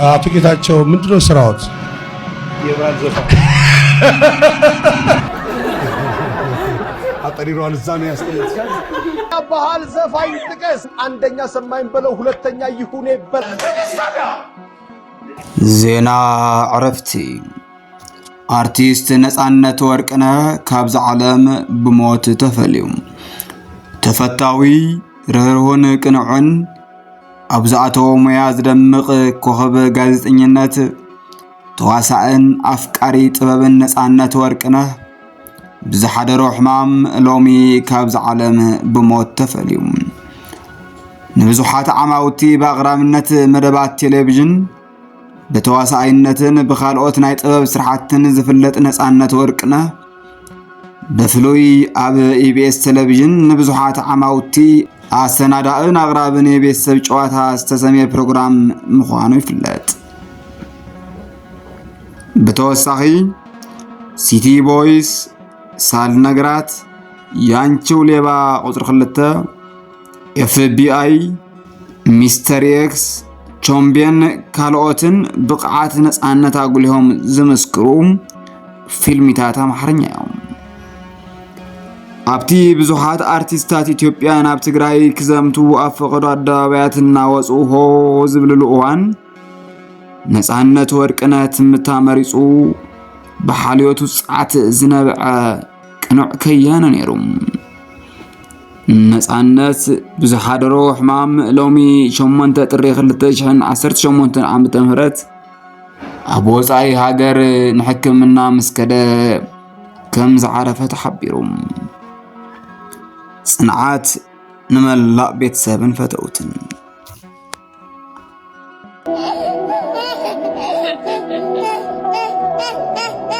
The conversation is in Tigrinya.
አቶ ጌታቸው ምንድነው ስራዎት? የባህል ዘፋ አጠሪሯል እዛ ነው ያስጠለች ባህል ዘፋኝ ጥቀስ። አንደኛ ሰማኝ በለው፣ ሁለተኛ ይሁኔ በል። ዜና ዕረፍቲ አርቲስት ነፃነት ወርቅነህ ካብዛ ዓለም ብሞት ተፈልዩ። ተፈታዊ ርህርሁን ቅንዑን ኣብ ዝኣተዎ ሙያ ዝደምቕ ኮኸብ ጋዜጠኝነት ተዋሳእን ኣፍቃሪ ጥበብን ነፃነት ወርቅነህ ብዝሓደሮ ሕማም ሎሚ ካብዚ ዓለም ብሞት ተፈልዩ ንብዙሓት ዓማውቲ ብኣቕራብነት መደባት ቴሌቪዥን ብተዋሳኣይነትን ብካልኦት ናይ ጥበብ ስራሕትን ዝፍለጥ ነፃነት ወርቅነህ ብፍሉይ ኣብ ኢቢኤስ ቴሌቪዥን ንብዙሓት ዓማውቲ ኣሰናዳእን ኣቕራብን የቤተሰብ ጨዋታ ዝተሰምየ ፕሮግራም ምዃኑ ይፍለጥ። ብተወሳኺ ሲቲ ቦይስ፣ ሳል ነገራት፣ ያንቺው ሌባ ቁፅሪ ክልተ ኤፍቢኣይ፣ ሚስተር ኤክስ፣ ቾምቤን ካልኦትን ብቕዓት ነፃነት ኣጉሊሆም ዝምስክሩ ፊልሚታት ኣምሓርኛ እዮም ኣብቲ ብዙሓት ኣርቲስታት ኢትዮጵያ ናብ ትግራይ ክዘምቱ ኣብ ፈቐዶ ኣደባባያት እናወፁ ሆ ዝብልሉ እዋን ነፃነት ወርቅነት ትምታ መሪፁ ብሓልዮቱ ፃዕት ዝነበዐ ቅኑዕ ከያነ ነይሩ ነጻነት ብዝሓደሮ ሕማም ሎሚ 8 ጥሪ 2018 ዓ.ም ኣብ ወጻኢ ሃገር ንሕክምና ምስ ከደ ከም ዝዓረፈ ተሓቢሩ። ጽንዓት ንመላእ ቤተሰብን ፈተውትን።